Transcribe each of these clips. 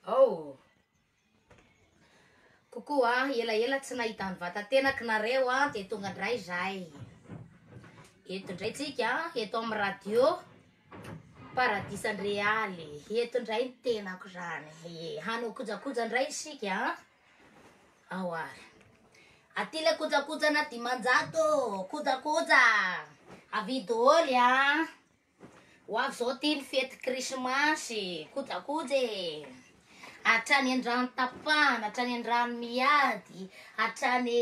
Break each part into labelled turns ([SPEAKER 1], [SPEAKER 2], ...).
[SPEAKER 1] Oh! Coucou a, ela ela tsy nahita ny vatatenako nareo a, de tonga ndray zahay, eto ndray tsika eto amin'ny radio paradisa ny realy, eto ndray ny tenako zany, hanao kojakoja ndray isika a, ao ary, aty le kojakojana dimanjato ô, kojakoja, avidy dôly a. Ho avy izao ity ny fety krismasy, kojakoja e! Hatrany an-drano tapahana, hatrany an-drano miady, hatrany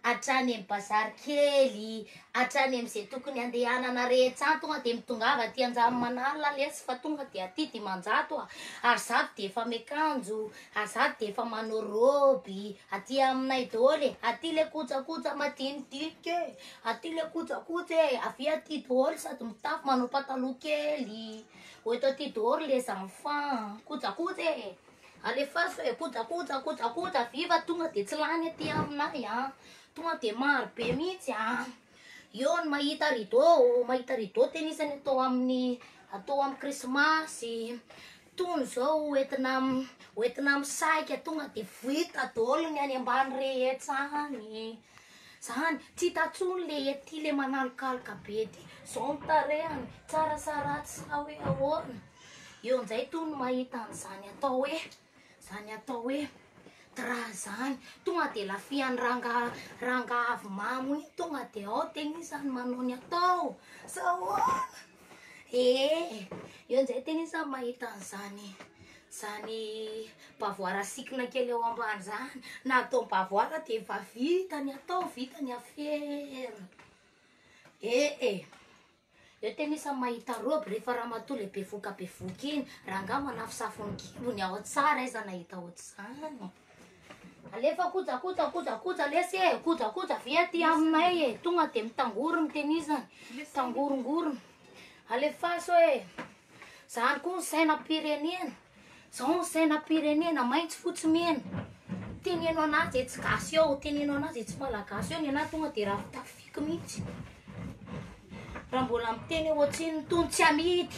[SPEAKER 1] hatrany amin'ny bazary kely, hatrany amin'izay tokony handehanana rehetra any, tonga dia mitongava aty Anjamanala lesy fa tonga dia aty Dimanjato a, ary zato dia efa miakanjo, ary zato dia efa manao robe, aty aminay daholo e, aty le kojakoja madinidinika e, Aty le kojakoja e, avia aty daholo sady mitafy manao pataloha kely, eto aty daholo les enfants, kojakoja e, alefaso e, kojakoja, kojakoja, avia fa tonga de tsy lany aty aminay an, tonga de maro be mihitsy an, eo ny mahita rideau, mahita rideau tenisany atao amin'ny atao amin'ny krismasy, Tony izao ho entina ho entina misahika tonga de vita daholo ny any ambany rehetra any e. Zany tsy hita tsony le ety le manalokaloka be ty. Zao ny tarehany, tsara sa ratsy sa hoe ahoana. Eo njay tony mahita an'izany atao hoe zany atao hoe dra zany. Tonga de lafihan'ny ranga ranga avy mamo iny tonga de ao tegna izany manao ny atao sa ahoana. Ee, eo njay tena iza mahita an'zany zany bavoara sikina kely eo ambany zany, na atao bavoara de efa vita ny atao, vita ny afera. Ee, eo tena iza mahita robe rehefa ramatoa le bevoka bevoka iny, rangah manafosafo ny kibony ao tsara iza nahita ohatr'zany. Alefa kojakoja kojakoja lesy e kojakoja ve aty aminay e tonga de mitangory ny tenisany tangorongorona alefaso e zany koa ny sainam-pirenena zao ny sainam-pirenena maintsy fotsy mena teneno anazy e tsy gasy eo teneno anazy e tsy malagasy eo ny anahy tonga de raha fitafifiky mihitsy raha mbola miteny eo atsiny tony tsy amidy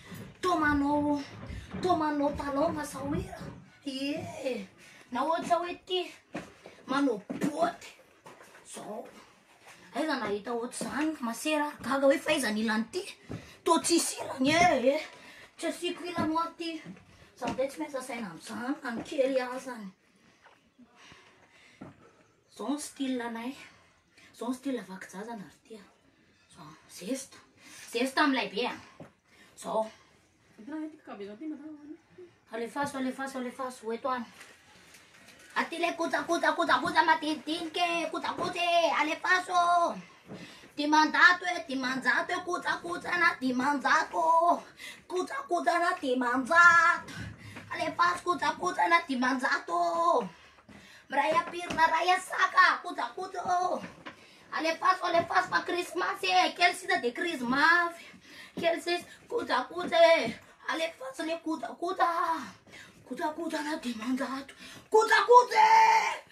[SPEAKER 1] Toa manao toa manao talon sa hoe ee na ohatra hoe ty manao botte zao aiza nahita ohatr'izany masera gaga hoe faiza ny ilany ty toa tsisy ilany ee tsy asiako ilany hoa ty za ndray tsy miasa saina amin'izany na ny kely azany zao ny style anay Zao ity ilay vaky jaza na ry tia. Zao, zesta. Zesta amin'ny lay be a. Zao. Alefaso, alefaso, alefaso, ho eto any. Aty ilay koja, koja, koja, koja madinidinika e, koja, koja e, alefaso. Dimanjato e, dimanjato e, koja, koja na dimanjato. Koja, koja na dimanjato. Alefaso, koja, koja na dimanjato. Miray apirina ray asaka kojakoja ô oh. Alefaso alefaso fa krismasy e eh. Kely sisa de krizy mafy Kely sisa kojakoja e eh. Alefaso le kojakoja Kojakoja na dimanjato Kojakoja e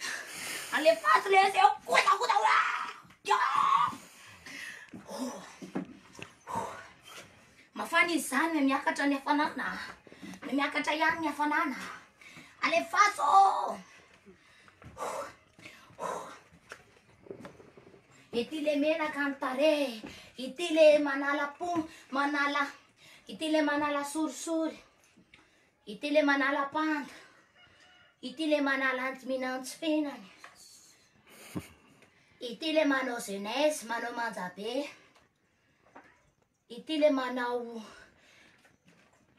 [SPEAKER 1] Alefaso le zeo kojakoja oa Mafana izy zany, miakatra ny hafanana, miakatra ihany ny hafanana. Alefaso! Ity le menaka ny tarehy, ity le manala po, manala, ity le manala sorisory, ity le manala panda, ity le manala antiminantsy fenany, ity le manao jeunesse, manao manja be. Ity le manao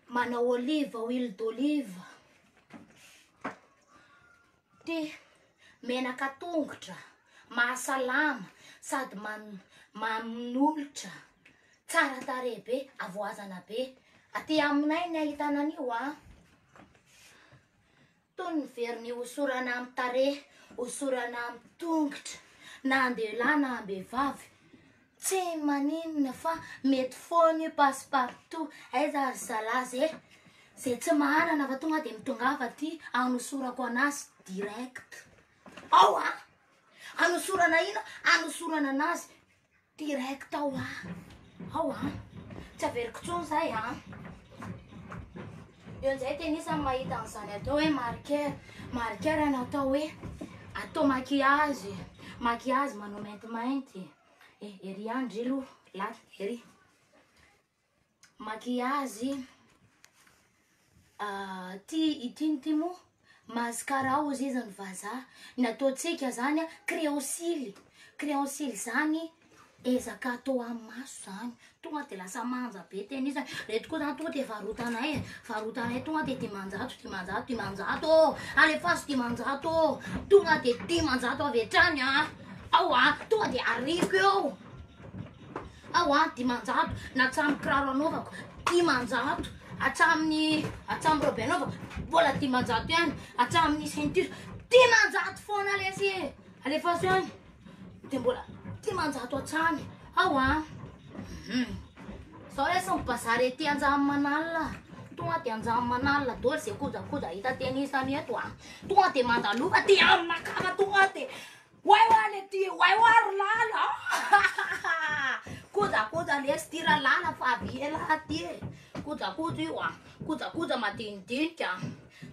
[SPEAKER 1] manao olive, huile d'olive. Ty menaka tongotra, mahasalama sady man, manolotra, tsara tarehy be, avoazana be. Aty aminay ny ahitana an'io a. Toy ny very nihosorana amin'ny tarehy, hosorana amin'ny tongotra, na an-dehilahy na am-behivavy. Tsy maninona fa mety foana io passe partout. Aiza ry zalahy ze? Ze tsy manana fa tonga dia mitongava aty anosorako anazy direct. Ao an! Anosorana ino? Anosorana anazy Direct ao a! Ao a! Tsy averiko intsony izay a! Eo amin'izay tennis no mahita an'izany atao hoe marqueur. Marqueur no atao hoe atao maquillage. Maquillage manao maintimainty. Eh, ery ihany, ndry aloha, latsaka ery. Maquillage ah ty ity ty moa mascara hozy iza ny vazaha ny ataontsika zany a crayon cily crayon cily zany ezaka atao amin'ny maso zany tonga de lasa manja be tena izy reto koa zany tonga de varotanay e varotanay tonga de dimanjato dimanjato dimanjato ô alefaso dimanjato ô tonga de dimanjato avy hatrany a ao a tonga de arivo eo Aho an dimanjato na hatramin'ny kiraro anaovako dimanjato hatramin'ny hatramin'ny robe anaovako mbola dimanjato ihany hatramin'ny ceinture dimanjato foana lesy e alefaso ihany dia mbola dimanjato hatrany aho an hmm. zao lesy ny bazary ety anjamanala tonga dia anjamanala doly izay kojakoja hita teny isany eto an tonga dia mandaloka dia aminakava tonga dia Oay oay le ty oay oay ry lala aahh kojakoja lesy ty ra lala fa avy ela ty e kojakoja io a kojakoja madinidinika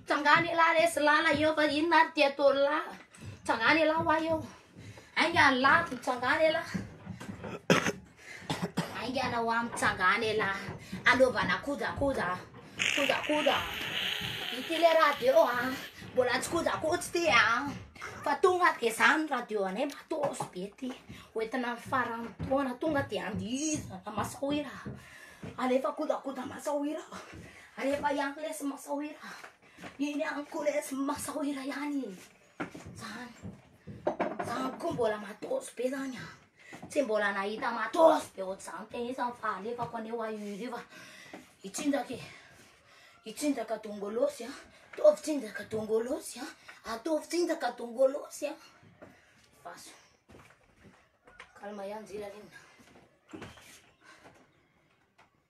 [SPEAKER 1] tsangano elahy resy lala eo fa inona ary ty ataony lahy tsangano elahy ho ahy eo ainga ny lahy tsangano elahy Aingana hoa mitsanga any elah Anaovana kojakoja Kojakoja Ity le radio a Mbola tsy kojakoja ity a Fa tonga dia izany ny radio anay matos be ity Hoentina amin'ny faran'ny taona Tonga dia andihizana masohira Alefa kojakoja masohira Alefa ihany lesy masohira Iny ihany koa lesy masohira ihany Zany, zany koa mbola matos be zany an, tsy mbola nahita matos be ohatr'izany tena izy zany fa alefako anie ho ahy io izy io fa i tsinjaka e, i tsinjaka dongolosy an, ataovy tsinjaka dongolosy an, ataovy tsinjaka dongolosy an, vaso, calme ihany Njila lena.